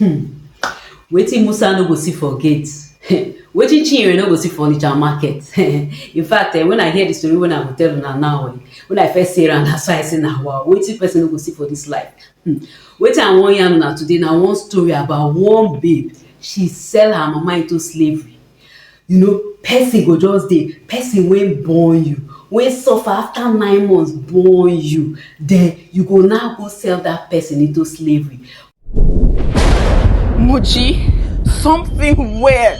um Wetin Musa no go see for gate um Wetin Chinyere no go see for Onitsha market um In fact um when I hear the story when I go tell una now um when I first hear am na so I say na wow Wetin person no go see for this life um Wetin I wan yarn una today na one story about one babe she sell her mama into slavery You know, person go just dey, person wey born you, wey suffer after nine months born you, then you go now go sell that person into slavery. Muji, something weird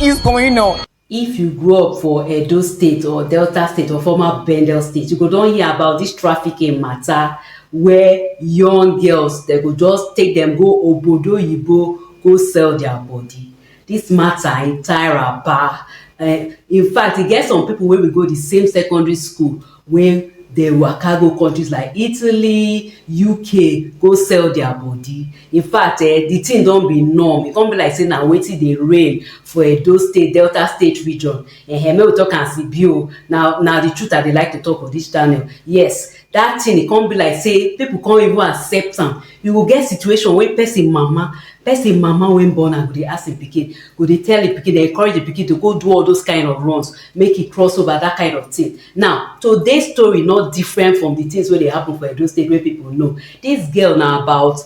is going on. If you grow up for Edo State or Delta State or former Bendel State, you go don hear about this trafficking matter where young girls, they go just take them go obodo oyibo go sell their body. This matter e tire ba um in fact e get some people wey we go the same secondary school wey dey waka go countries like Italy, UK go sell their body. In fact um the thing don be norm e come be like say na wetin dey reign for Edo state, Delta state region um make we talk am as e be o na na the truth I dey like to talk for this channel yes. that thing e come be like say people come even accept am you go get situation wey person mama person mama wey born am go dey ask him pikin go dey tell him pikin dey encourage the pikin to go do all those kind of runs make e cross over that kind of thing now today's story not different from the things wey dey happen for Edo State wey people know this girl na about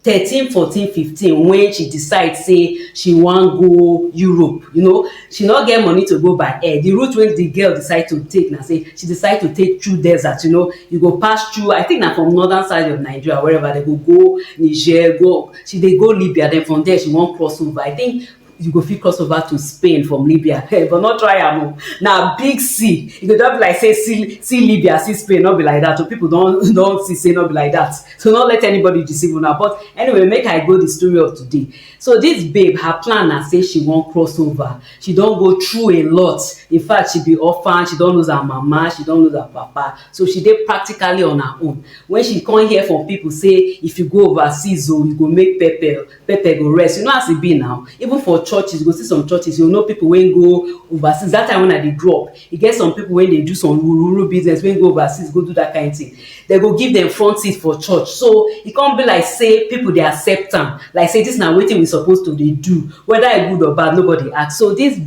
thirteen fourteen fifteen when she decide say she wan go Europe you know she no get money to go by air the route wey the girl decide to take na say she decide to take through desert you know you go pass through I think na from northern side of Nigeria wherever they go go Niger go she dey go Libya then from there she wan cross over I think you go fit cross over to spain from libya but no try am o na big sea e go just be like say see see libya see spain no be like that o people don don see say no be like that so no let anybody deceive una but anyway make i go the story of today so this babe her plan na say she wan cross over she don go through a lot in fact she be orphan she don lose her mama she don lose her papa so she dey practically on her own when she come hear from people say if you go overseas o you go make pepper pepper go rest you know as e be now even for churches you go see some churches you know people wey go overseas that time when i dey grow up e get some people wey dey do some rural business wey go overseas go do that kind thing they go give them front seat for church so e come be like say people dey accept am like say this na wetin we suppose to dey do whether e good or bad nobody ask so this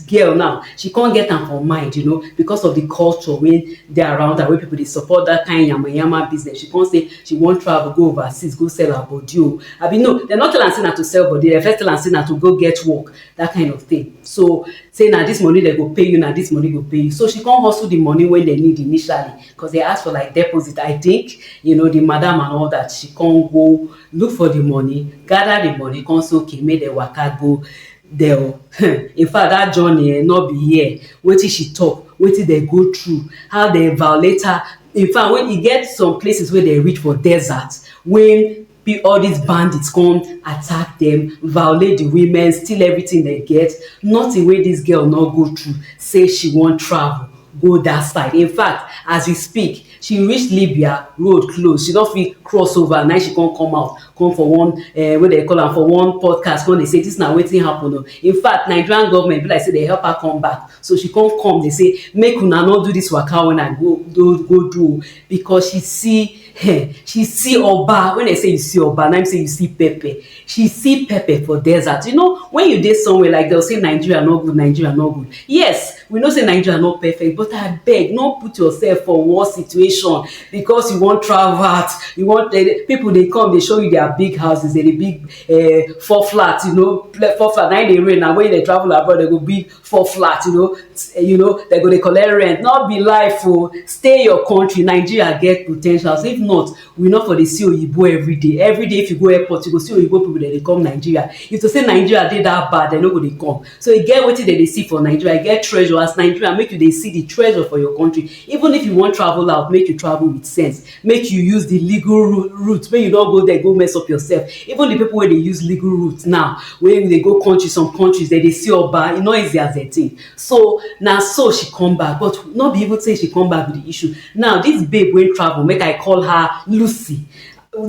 girl now she come get am for mind you know because of the culture wey dey around her wey people dey support that kind yamayama business she come say She wan travel go overseas go sell her body o abi no dem no tell am say na to sell body dem first tell am say na to go get work that kind of thing so say na this money dem go pay you na this money go pay you so she come hustle the money wey dem need initially because they ask for like deposit I think you know the madam and all that she come go look for the money gather the money come say okay make dem waka go there o in fact that journey eh no be here wetin she talk wetin dem go through how dem violate her In fact, when e get some places wey dem reach for desert, when all these bandits come attack them, violate the women, steal everything they get, nothing wey this girl no go through, say she wan travel go that side. In fact, as we speak, she reach Libya, road close, she no fit cross over, na she come come out. come for one uh, wey dem call am for one podcast come dey say this na wetin happen o in fact nigerian government be like say dey help her come back so she come come dey say make una no do this waka when i go go go do o because she see eh, she see oba when i say you see oba na im say you see pepper she see pepper for desert you know when you dey somewhere like dem say nigeria no good nigeria no good yes We know say Nigeria no perfect but abeg no put yourself for worse situation because you wan travel out, you wan eh, people dey come dey show you their big houses, dey big uh, four flats, you know, four flats. Now they rain now when they travel abroad they go big four flats, you know, eh, you know they go dey collect rent. Not be life o, oh. stay your country. Nigeria get potentials. If not, we not for the see oyibo every day. Every day if you go airport you go see oyibo people dey come Nigeria. If to say Nigeria dey that bad, they no go dey come. so e get wetin dem dey see for nigeria e get treasure as nigeria make you dey see the treasure for your country even if you wan travel out make you travel with sense make you use the legal route make you don go there go mess up yourself even the people wey dey use legal route now wey dey go country some countries dem dey see oba e no easy as dem think so na so she come back but no be even say she come back with the issue now this babe wey travel make i call her lucy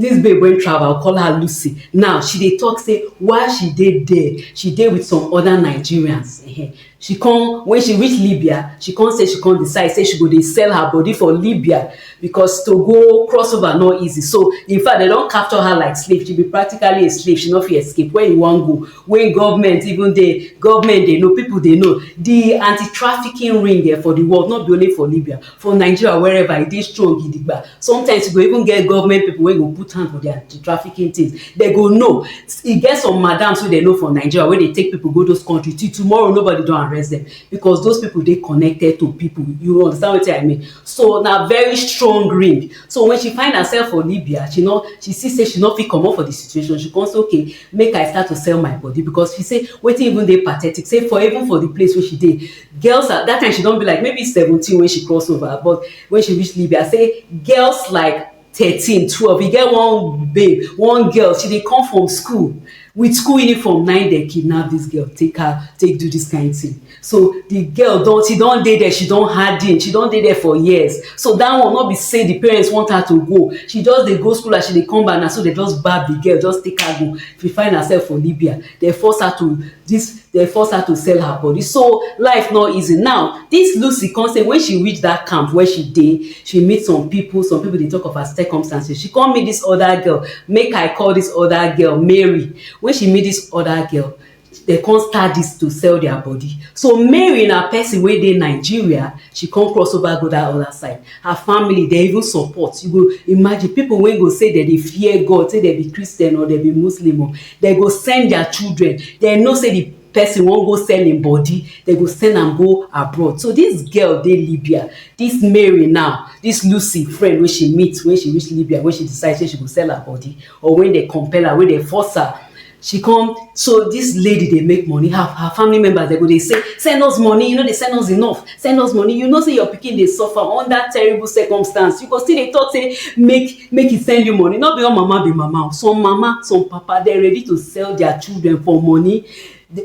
Dis babe wen travel, call her Lucy, now she dey talk say while she dey there, she dey with some other Nigerians um she come, when she reach Libya, she come say she come decide say she go dey sell her body for Libya because to go cross over no easy, so in fact dem don capture her like slave, she be practically a slave, she no fit escape, where you wan go wey government even dey, government dey know, people dey know, di anti-trafficking ring um for di world, no be only for Libya, for nigeria wherever e dey strong gidigba sometimes you go even get government people wey go put hand for their trafficking things they go know e get some madams wey they know for nigeria wey dey take people go those country till tomorrow nobody don arrest them because those people dey connected to people you understand wetin i mean so na very strong ring so when she find herself for libya she no she see say she no fit comot for the situation she come say okay make i start to sell my body because she say wetin even dey pathetic say for even for the place wey she dey Girls are, that time she don be like maybe seventeen when she cross over, but when she reach Libya, I say girls like thirteen, twelve. E get one babe, one girl, she dey come from school with school uniform na im dem kidnap this girl take her take do this kind thing so the girl don she don dey there she don harden she don dey there for years so that one no be say the parents want her to go she just dey go school as she dey come back na so they just gbab the girl just take her go she find herself for libya Dem force her to this, dem force her to sell her body. So life not easy. Now, this Lucy come say when she reach that camp where she dey, she meet some people. Some people dey talk of her circumstances. She come meet this other girl. Make I call this other girl Mary. When she meet this other girl, they come start this to sell their body. So Mary na person wey dey Nigeria, she come cross over go that other side. Her family dey even support. You go imagine people wey go say dem dey fear God, say dem be Christian or dem be Muslim o. dem go send their children dem know say the person wan go sell im body dem go send am go abroad so this girl dey libya this mary now this lucy friend wey she meet when she reach libya when she decide say she go sell her body or when dem compel her when dem force her she come so this lady dey make money her her family members dem go dey say send us money you no dey send us enough send us money you know say your pikin dey suffer under terrible circumstance you go still dey talk say make make he send you money no be all mama be mama some mama some papa dem ready to sell their children for money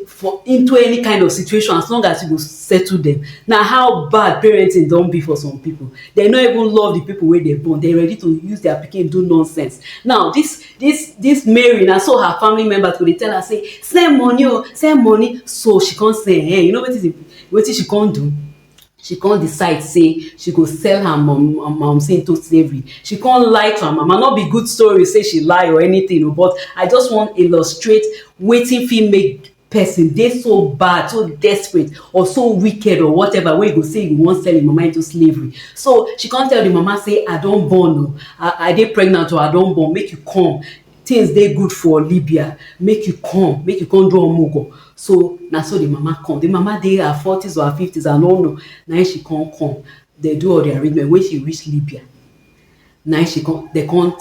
for into any kind of situation as long as you go settle them na how bad parenting don be for some people dem no even love the people wey dem born dem ready to use their pikin do nonsense now this this this mary na so her family members go dey tell her say send money o send money so she come say eh you know wetin wetin she come do she come decide say she go sell her mum mumsy into slavery she come lie to her mama no be good story say she lie or anything o but i just wan illustrate wetin fit make person dey so bad so desperate or so wicked or whatever wey go say you wan sell im mama into slavery so she come tell the mama say i don born o i i dey pregnant o i don born make you come Things dey good for Libya, make you come, make you come do omugo. So, na so the mama come. The mama dey her forties or her fifties, I no know. Na im she come come. They do all the arrangement. When she reach Libya, na im she come, they come,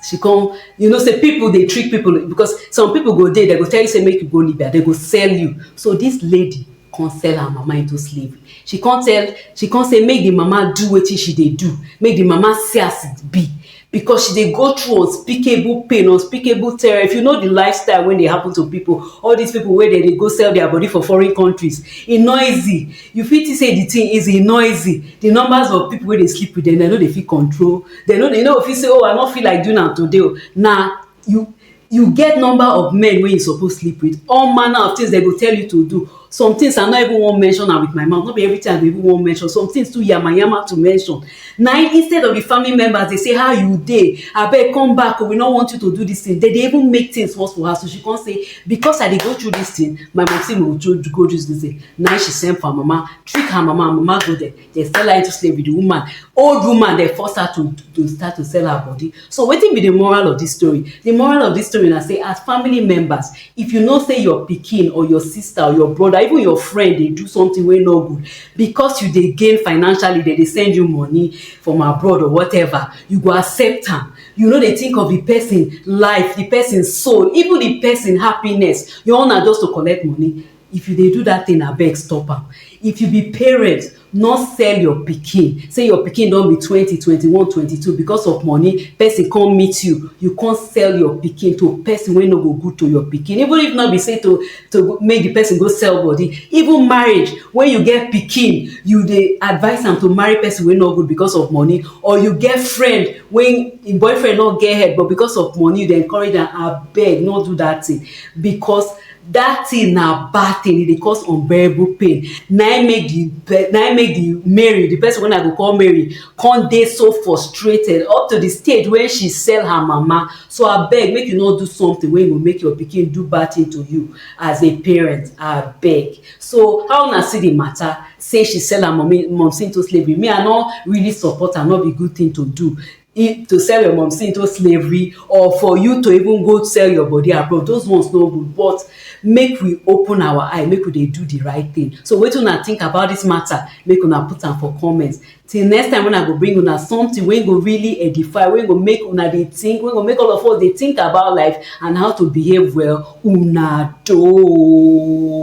she come, you know say people dey trick people because some people go dey, they go tell you say make you go Libya, they go sell you. So this lady, con sell her mama into slavery she con tell she con say make the mama do wetin she dey do make the mama see as it be because she dey go through unspeakable pain unspeakable terror if you know the lifestyle wey dey happen to people all these people wey dey dey go sell their body for foreign countries e no easy you fit think say the thing easy e no easy the numbers of people wey dey sleep with them dem no dey fit control dem no dey you no go fit say oh i no feel like doing am today o na you you get number of men wey you suppose sleep with all manner of things dem go tell you to do some things i no even wan mention am with my mouth no be everything i go even wan mention some things too yamayama to mention na instead of the family members dey say how you dey abeg come back o oh, we no want you to do this thing they dey even make things worse for her so she come say because i dey go through this thing my mom say mo go through go through this thing na she send for her mama trick her mama mama go there dey sell her into slavery the woman old woman dey force her to to start to sell her body so wetin be the moral of this story the moral of this story na say as family members if you know say your pikin or your sister or your brother even your friend dey do something wey no good because you dey gain financially they dey send you money from abroad or whatever you go accept am you no dey think of the person life the person soul even the person happiness your own na just to collect money If you dey do that thing abeg stop am. If you be parent no sell your pikin say your pikin don be twenty, twenty one, twenty two because of money person come meet you you come sell your pikin to person wey no go good to your pikin even if no be say to to make the person go sell body even marriage when you get pikin you dey advice am to marry person wey no good because of money or you get friend wey him boyfriend no get head but because of money you dey encourage am abeg no do that thing because that thing na bad thing e dey cause unbearable pain na im make the na im make the Mary the person wey I go call Mary come dey so frustrated up to the stage when she sell her mama so abeg make you no do something wey go make your pikin do bad thing to you as a parent abeg so how una see the matter say she sell her mommy momsi into slavery me I no really support am no be good thing to do if to sell your momsi into slavery or for you to even go sell your body abroad those ones no good but make we open our eye make we dey do the right thing so wetin una think about this matter make una put am for comment till next time when i go bring una something wey go really edify wey go make una dey think wey go make all of us dey think about life and how to behave well una doh.